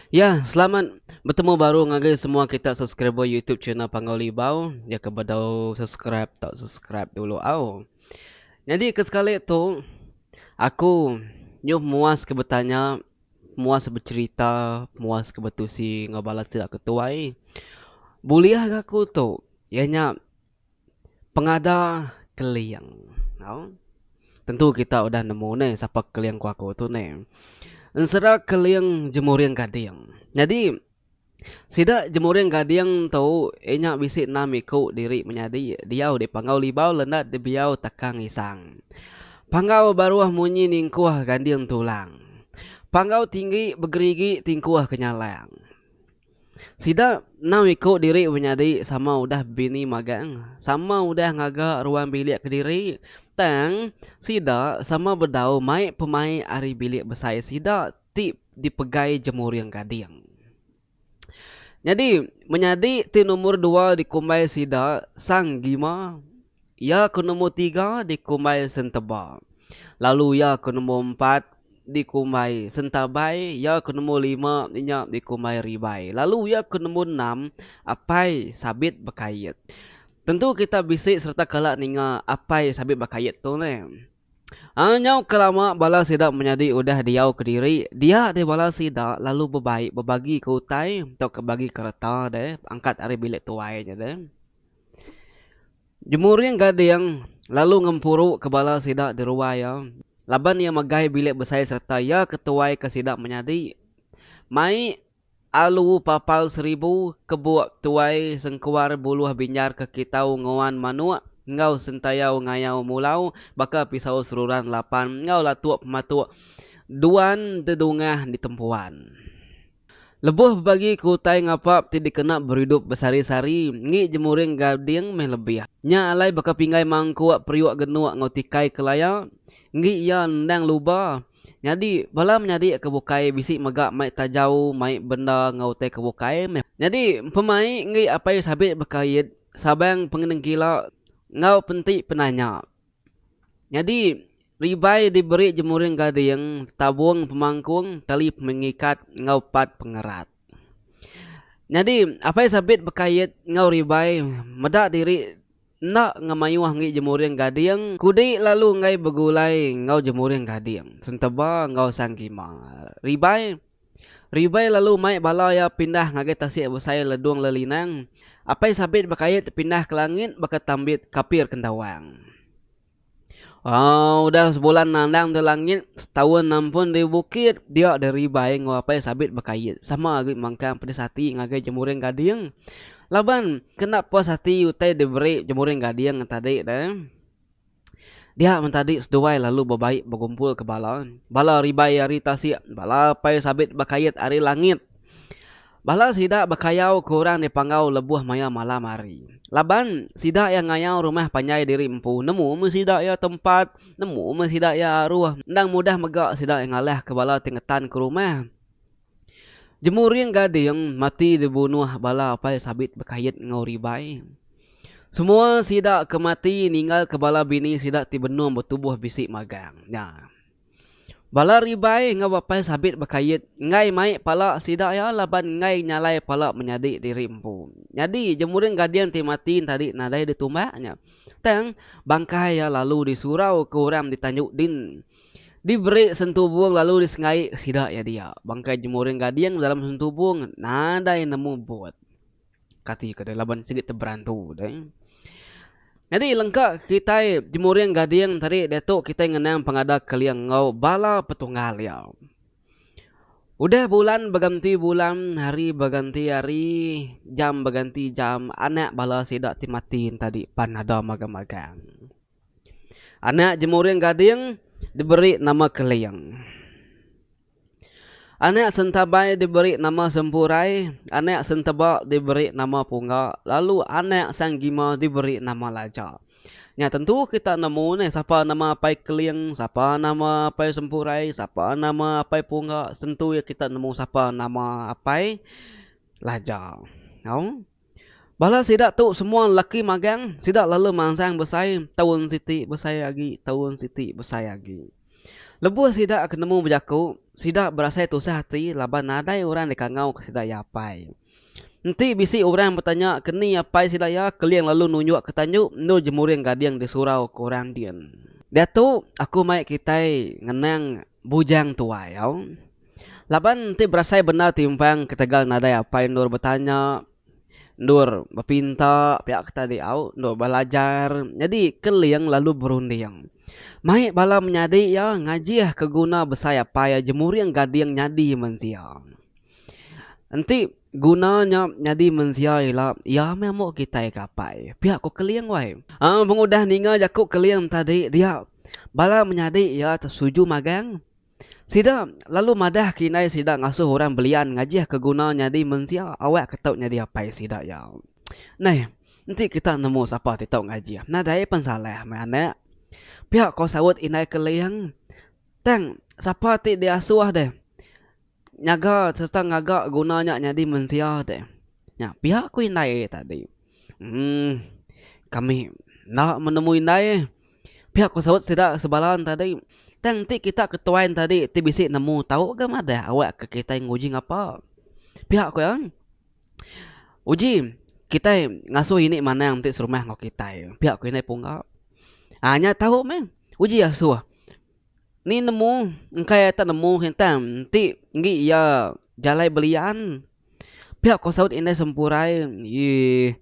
Yah selamat betemu baru ngagai semua kita subscriber YouTube channel Panggau Libau. Ya ke bedau subscribe tau subscribe dulu au. Nyadi ke sekali tu aku nyuh muas ke betanya, muas becherita, muas ke betusi enggau bala sida ke tuai. Bulih gaku tu iya nya Pengada Keling. Au. Tentu kita udah nemu ne sapa Keling Kuaku tu ne. Ensera Keling Jemuring Gading. Nyadi sida Jemuring Gading tu iya nya bisi enam iku diri menyadi diau di Panggau Libau Lendat Dibiau Takang Isang. Panggau Baruh Munyi Ningkuh Ganding Tulang. Panggau Tinggi Begerigi Tingkuh Kenyalang. Sida enam iku diri menyadi sama udah bini magang, sama udah ngaga ruang bilik kediri, tang sida sama bedau mai pemai ari bilik besai sida ti dipegai jemuring gading. Nyadi, menyadi ti nombor dua dikumbai sida Sang Gima Iya ke nombor tiga dikumbai Senteba, lalu iya ke nombor empat dikumbai Sentabai, iya ke nombor lima nya dikumbai Ribai, lalu iya ke nombor enam Apai Sabit Bekait. Tentu kita bisi sereta kala ninga Apai Sabit Bekait tu neh. Aa nyau ke lama bala sida menyadi udah diau kediri, dia deh bala sida lalu bebai bebagika utai tauka bagika reta deh angkat ari bilik tuai nya deh. Jemuring Gading lalu ngempuru ke bala sida di ruai iya laban iya megai bilik besai sereta iya ke tuai ke sida menyadi. Mai alu papal seribu kebuk tuai sengkuar buluh binjar ke kitau nguan manuk enggau sentayau ngayau mulau baka pisau seruran lapan enggau latuk pematuk duan dedungah ditempuan. Lebuh bebagi ke utai ngapap ti dikena beridup besari-sari engi jemuring gading meh lebih. Nya alai baka pinggai mangkuk periuk genuk enggau tikai ke laya enggi iya endang luba nyadi bala menyadi ke bukai bisi mega mai tajau mai benda enggau utai ke bukai meh. Nyadi pemai enggi apai sabit bekaid sabang pengenengkila enggau penti penanya. Nyadi, ribai diberi jemuring gading, tabung pemangkung, tali pengikat enggau pat pengerat. Nyadi, apai sabit bekait enggau ribai meda diri enda ngemayuh enggi jemuring gading kudi lalu enggai begulai enggau jemuring gading senteba enggau sang gima. Ribai. Ribai lalu mai bala iya pindah ngagai tasik besai Ledung Lelinang, apai sabit Bekait pindah ke langit baka tambit kapir kendawang. Au udah sebulan nandang tu langit, setaun nampun di bukit, dia deh Ribai enggau apai sabit Bekait sama agi mangkang pedis ati ngagai Jemuring Gading laban kena puas ati utai diberi Jemuring Gading tadi deh. Dia mentadi seduai lalu bebai begumpul ke bala. Bala ribai ari tasik, bala apai sabit bekait ari langit. Bala sida bekayau ke orang dipanggau lebuh maya malam hari. Laban, sida iya ngayau rumah panjai diri empu, nemu meh sida iya tempat, nemu meh sida iya aruh, endang mudah mega sida iya ngalahka bala ti ngetanka rumah. Jemuring Gading mati dibunuh bala apai sabit bekait enggau Ribai. Semua sida ke mati ninggalka bala bini sida ti benung betubuh bisi magang nya. Bala Ribai enggau apai sabit bekait enggai mai pala sida iya laban enggai nyalai pala menyadi diri empu. Nyadi Jemuring Gading ti mati entadi nadai ditumbak nya tang bangkai iya lalu disurau ke orang di Tanjung Din Diberi sentubung lalu disenggaik ke sida iya dia. Bangkai jemuring gading dalam sentubung nadai nemu but. Kati ke deh laban sigi teberantu deh. Nyadi lengka kitai jemuring gading tadi diatu kitai ngenang pengada keling enggau bala petunggal iya. Udah bulan beganti bulan, hari beganti hari, jam beganti jam anak bala sida ti mati enti tadi pan ada magang-magang. Anak jemuring gading diberi nama Keling. Anak sentabai diberi nama Sempurai, anak senteba diberi nama Pungga lalu anak Sang Gima diberi nama Laja. Nya tentu kita nemu neh sapa nama Apai Keling, sapa nama Apai Sempurai, sapa nama Apai Pungga tentu iya kita nemu sapa nama Apai Laja. Au. Bala sida tu semua lelaki magang, sida lalu mansang besai taun siti besai agi taun siti besai agi. Lebuh sida ke nemu bejaku, sida berasai tusah ati laban nadai orang dikangauka sida iya apai. Enti bisi orang betanya ke ni apai sida iya, Keling lalu nunjukka tandu endur jemuring gading di surau ke orang din. Diatu aku mai kitai ngenang Bujang tuai au. Laban enti berasai bendar timpang ketegal nadai apai endur betanya, endur bepinta pia ke tadi au, endur belajar nyadi Keling lalu berunding. Mai bala menyadi iya ngajih ke guna besai apai iya jemuring gading nyadi mensia. Enti guna nya nyadi mensia ila, iya meh ambo kitai ke apai. Pia ku Keling wai. Aaa pengudah ninga jaku Keling tadi dia, bala menyadi iya tu setuju magang. Sida lalu madah ke indai sida ngasuh orang belian ngajih ke guna nyadi mensia awak ke tau nyadi apai sida iya. Neh, enti kita nemu sapa ti tau ngajih, nadai pen salah meh anak. Pia ko saut indai Keling. Tang sapa ti diasuh deh. nyaga sereta ngaga guna nya nyadi mensia ti nya pia ku indai ari tadi um kami enda menemu indai pia ku saut sida sebalan tadi tang ti kita ketuai ne tadi ti bisi nemu tau ga madah awak ke kitai nguji ngapa pia ku iya uji kitai ngasuh ini manang ti serumah enggau kitai pia ku indai pungga um nya tau meh uji asuh Ni nemu engkai ai tak nemu hintang enti enggi iya jalai belian pia ko saut indai sempurai eii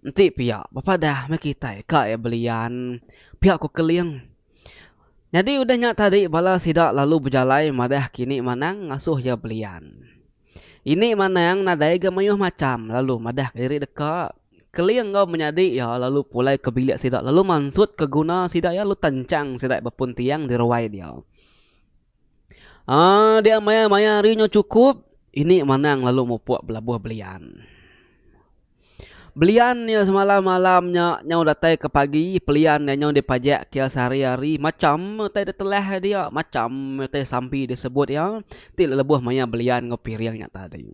enti pia bepadah meh kitai ka iya belian pia ko keling nyadi udah nya tadi bala sida lalu bejalai madah kini manang ngasuh iya belian. Ini manang nadai ga mayuh macham lalu madahka diri deka Keling enggau menyadi iya lalu pulai ke bilik sida lalu mansutka guna sida iya lalu tanchang sida bepun tiang di ruai dia. Um dia maya-maya ari nya chukup ini manang lalu mupuk belabuh belian. Belian iya semalam malam nya nyau datai ke pagi pelian iya nyau dipajak ke iya sehari-hari macham utai da telah dia macham utai sampi disebut iya ti lebuh mayar belian enggau piring nya tadi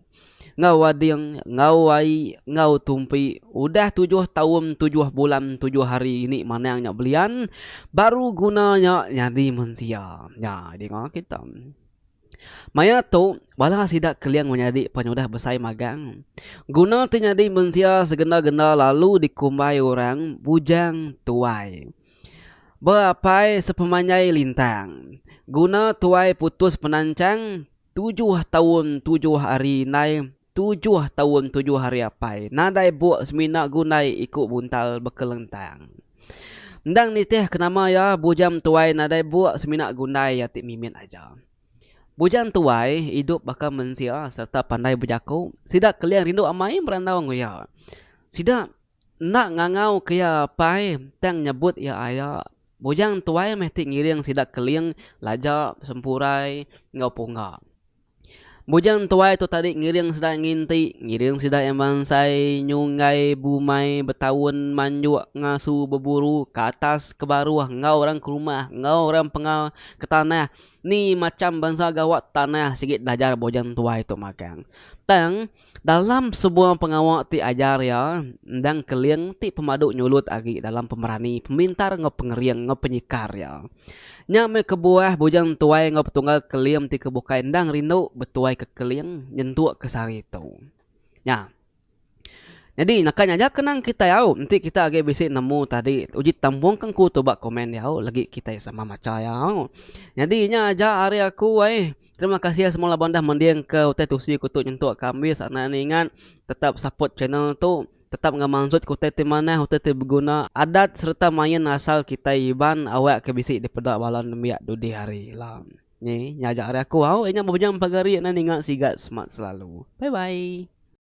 enggau ading enggau ai enggau tumpi udah tujuh taun tujuh bulan tujuh hari ini manang nya belian baru guna nya nyadi mensia nya dinga kita. Maya tu, bala sida keling menyadi penyudah besai magang. Guna ti nyadi mensia segenda-genda lalu dikumbai orang bujang tuai. Ba apai sepemanjai lintang, guna tuai putus penancang tujuh taun tujuh hari indai Tujuh taun tujuh hari apai nadai buk semina gundai iku buntal bekelentang. Endang nitih ke nama iya, Bujang Tuai nadai buk semina gundai iya ti mimit aja. Bujang Tuai idup baka mensia sereta pandai bejaku. Sida keling rindu amai berandau enggau iya. Sida enda ngangauka iya apai tang nyebut iya aya. Bujang Tuai meh ti ngiring sida keling laja, sempurai enggau pungga. Bujang tuai tu tadi ngiring sida nginti, ngiring sida iya mansai nyunggai bumai betaun manjuk ngasu beburu ke atas ke baruh enggau orang ke rumah enggau orang penga ke tanah ni macham bansa gawa tanah sigi belajar bujang tuai tu magang tang. Dalam semua pengawa ti ajar iya, endang Keling ti pemadu nyulut agi dalam pemerani, pemintar enggau pengering enggau penyikar iya. Nya meh kebuah Bujang Tuai enggau Petunggal Keling ti ke bukai endang rindu betuaika Keling nyentuk ke sehari tu. Nya. Nyadi naka nyaja ke nang kitai au enti kita agi bisi nemu tadi uji tambung ke engku tu ba komen diau legi kitai sama macha iya au. Nyadi nya aja ari aku ai. Terima kasih semua laban dah mending ke utai tusi kutu nyentuk ka ambis anak ni ingat tetap support channel tu tetap enggau manzut ke utai ti manah utai ti beguna adat serta main asal kitai iban awak ke bisi dipeda bala nembiak dudi hari ila ni nya aja ari aku au ingat bebejam pagari anak ninga siga semat selalu bye bye.